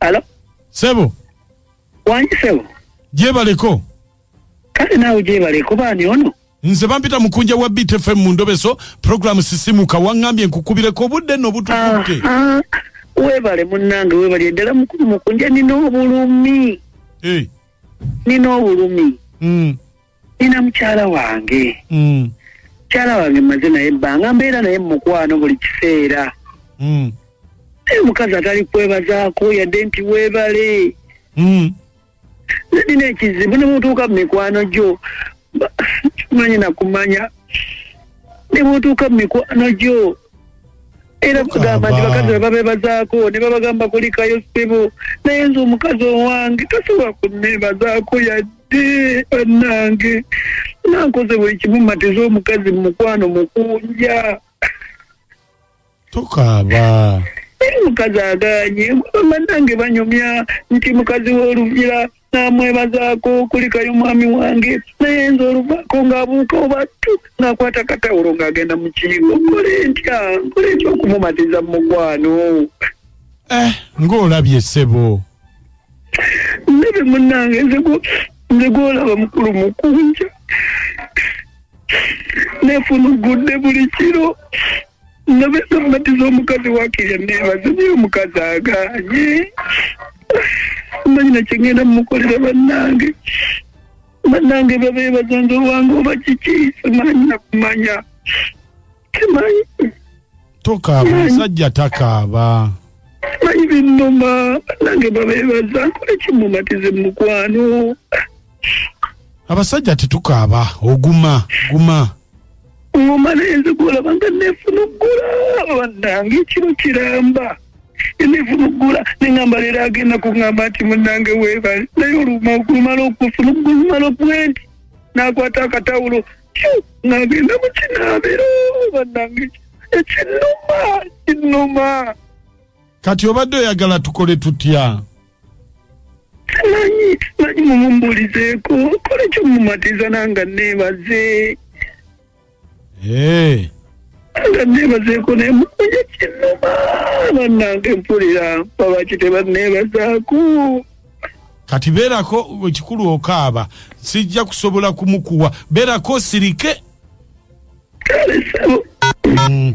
Alo, sebo wangi sebo. gyebaleko Kale naawe gyebale kuba ani ono? nze bampita mukunja wa btfm mu ndobeso programu sisimuka waŋŋambye nkukubireko obudde no butukutte Aha, Weebale munnange weebale ddala mukulu mukunja nina obulumi. Eh, Nina obulumi. mm. nina mukyala wange Mm. mukyala wange maze naye ebbanga mbeera naye mu mukwano buli kiseera Mm. naye omukazi atali kwebazaako yadde nti weebale Mm. naye nina ekizibu ne bwotuuka mu mikwano gyo ba- manyi nakumanya ne bwotuuka mu mikwano gyo era bagamba nti Baba. bakazi bwe babeebazaako ne babagamba kulikayo ssebo naye nze omukazi owange tasobola kunneebazaako yadde Eh, bannange nankoze buli kimu matiza omukazi mu mukwano mukunja tokaaba naye mukazi aganye bannange banyumya nti mukazi w'olugira namwebazaako kulikayo mwami wange naye nze oluvaako ng'abuuka obattu ng'akwata katawulo ng'agenda mu kiibo nkole ntya nkole ntya okumumatiza mu mukwano eh, ng'olabye ssebo ndebe munange nze gwo- nze gwolaba mukulu mukunja nefunugudde buli kiro nabe namatiza omukazi wakirya nebaze naye omukazi aganye manyina kyengenda mumukolera bannange bannange babeebaza nze owange oba kiki simanyi nakumanya tokaaba omusajja takaaba manyi binnuma nange babeebaza nkole kimumatize mu mukwano abasajja tetukaaba oguma guma ngoma naye nze gwolaba nga neefuna oggula bannange ekiro kiramba neefuna oggula neŋamba leero agenda kuŋamba nti munnange weebale naye oluma okumala okufuna okumala okuwenti n'akwata akatawulo nagenda mu kinaabiro bannange ekinnuma kinnuma kati obadde oyagala tukole tutya nanyi nanyi mumumbulizeeko kola ekyo mumatiza nanga neebaze Eh, nga neebazeeko naye mukuye kinnuma bannange mpulira babaki tebanneebazaako kati beerako ekikulu okaaba sijja kusobola kumukuwa beerako osirike mm.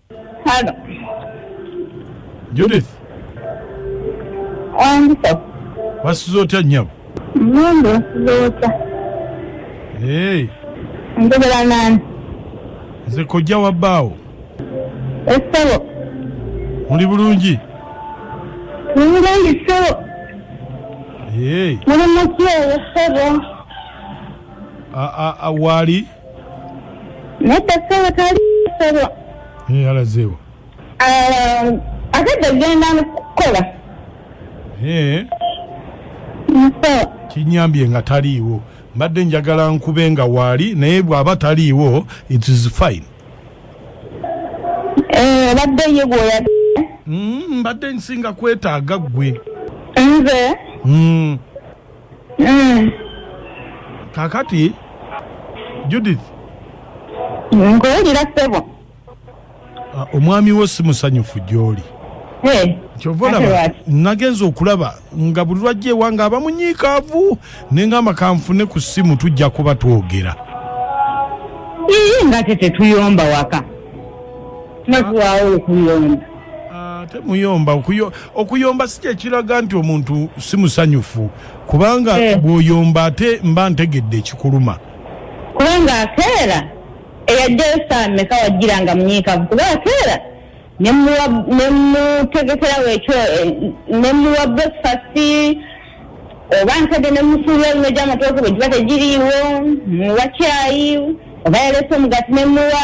Hello. Judith. Wandisa. Wasuze otya nyabo? Mundu wasuze otya. Hey. Njogera nani? Nze kojja wa bbaawo. Essebo. Muli bulungi? Muli bulungi ssebo. Hey. Muli mutya essebo? Waali? nedda sebo tali sebo eh, alazeewo ah, akedde kugenda kukola eh. kinyambye nga taliiwo mbadde njagala nkube nga waali naye bw'aba taliiwo it is fine eh, badde ye gwoya mm, mbadde nsinga kwetaaga ggwe nze mm. Mm. kakati judith nkuwulira ssebo ah, omwami wo si musanyufu gy'oli Eh, kyova ate olaba lwaki? nagenza okulaba nga buli lwajja ewange aba munyiikaavu ne ngamba kanfune ku ssimu tujja kuba twogera Ii, nga te tetuyomba waka nakuwaawo okuyomba Ah, temuyomba okuyomba si kyekiraga nti omuntu si musanyufu kubanga eh. bwoyomba ate mba ntegedde ekikuluma kubanga akeera eyajjayo saameka wajjira nga munyiikavu kuba akeera nemutegekerawo ekyo eh, nemuwa breakfast oba nkadde nemusuula oluno gyamatooke bwe giba tegiriiwo muwa kyayi oba yaleese omugati nemuwa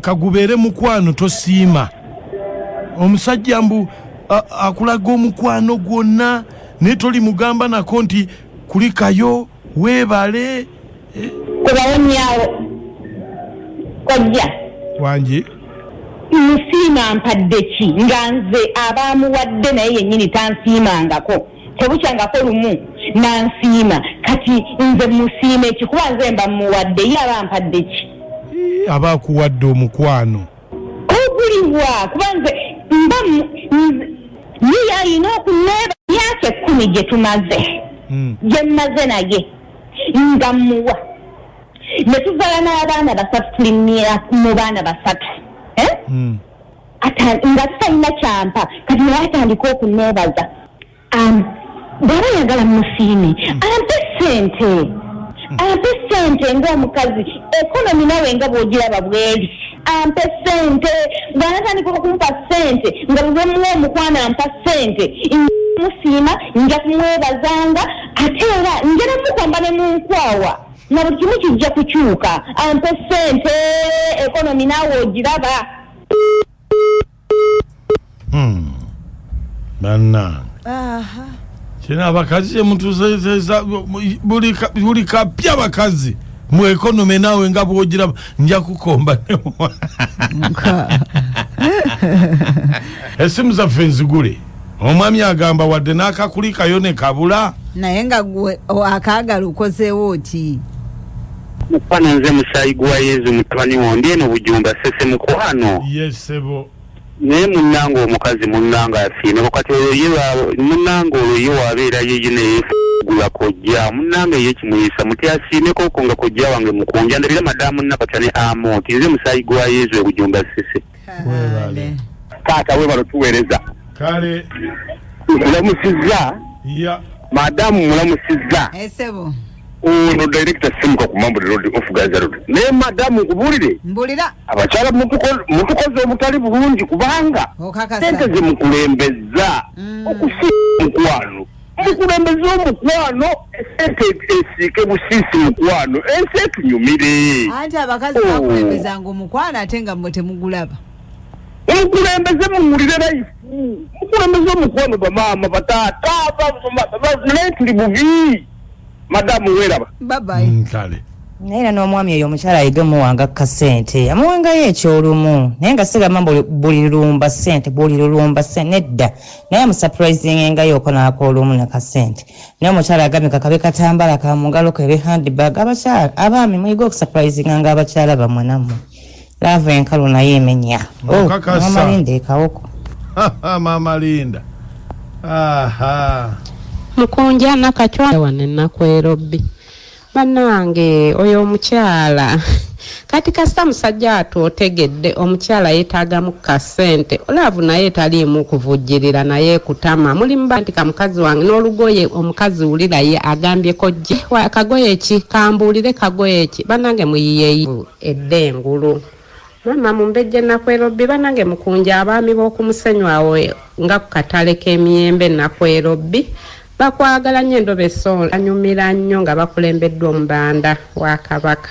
kagubeere mukwano tosiima omusajja mbu akulaga omukwano gwonna naye toli mugamba nako nti kulikayo weebale eh? kubawonyawo kojja wangi nsiima mpadde ki nga nze abaamuwadde naye yennyini tansiimangako tebukyangako lumu nansiima kati nze musiima ekikuba nze mba muwadde ye aba mpadde ki aba akuwadde omukwano oguliwa kuba nze mba ye yalina okuneeba myaka ekkumi gye tumaze hmm. gye mmaze naye nga muwa ne tuvala n'abaana basatu tuli mu baana basatu eh? hmm. nga talina kyampa kati naye atandika okuneebaza um, bwaba yagala musiime ampe sente ampe sente ngaomukazi ekonomi nawe nga bwogiraba bweri ampe sente bwanatandika okumpa sente nga bwemuwa omukwano ampa sente musiima nja kumwebazanga ate era njera mukwamba ne munkwawa na buli kimu kijja kukyuka ampe sente ekonomi nawe ogiraba Hmm. bannange Aha. kino abakazi kyemutuzezeza buli ka- buli kapya abakazi mu ekonome naawe nga bwogiraba nja kukomba Nka. esimu zaffe nzigule omwami agamba wadde n'akakulikayo ne kabula naye nga gwe akaagala okozeewo ki mukwano nze musaayi gwa yezu mutabani wondi eno bujumba sese mukwano yesebo yes, naye munanga omukazi munanga asiima kati oyo ye munanga oyo ye wabeera yeye neyegula kojja munanga ye kimuyisa muti asiimeko ko nga kojja wange mukunja ndabira madamu nakatya ne amonti nze musaayi gwa yezu ebujumba sese webale taata webalo tuweereza kale nkulamusizza ya madamu mulamusizza esebo ono director simuka ku mambo road of gaza road naye madamu nkubulire mbulira abakyala mutuko- mutukoze obutali bulungi kubanga sente okakasa zemukulembezza Mm. okusi mukwano mukulembeze omukwano esente esiike busiisi mukwano ensi etunyumire anti abakazi bakulembezanga oh. omukwano ate nga mwe temugulaba mukulembeze muwulire layifu mukulembeze omukwano bamaama bataata naye tuli bubi madamu weraba babayi mm, kale naye era n'omwami oyo omukyala ayige omuwanga ka ssente amuwangayo ekyolumu naye nga sigamba buli lulumba ssente buli lulumba ssente nedda naye amusapurayizinga engayoko n'akoola omu ne kasente naye omukyala agambye kakabe katambala ka mu ngalo kebe handbag abakyala abaami muyige okusapurayizinga nga abakyala bamwe nammwe laavu enkalu naye emenya oh, maama linda ekawoko maama linda mukunja nakacwa wano enaku erobbi Banange oyo omukyala Kati kasita musajja watu otegedde omukyala yetagamu kasente laavu naye taliimu kuvujjirira naye kutama muli muba nti kamukazi wange n'olugoye omukazi wulira ye agambye kojje kagoye ki kambuulire kagoye ki banange muyiyeyi edde engulu mama mumbejje nakwelobbi banange mukunja abaami b'okumusenyu awo nga ku katale k'emiyembe nakwelobbi Bakwagala nnyo endobo esonga anyumira nnyo nga bakulembeddwa omubanda wa kabaka.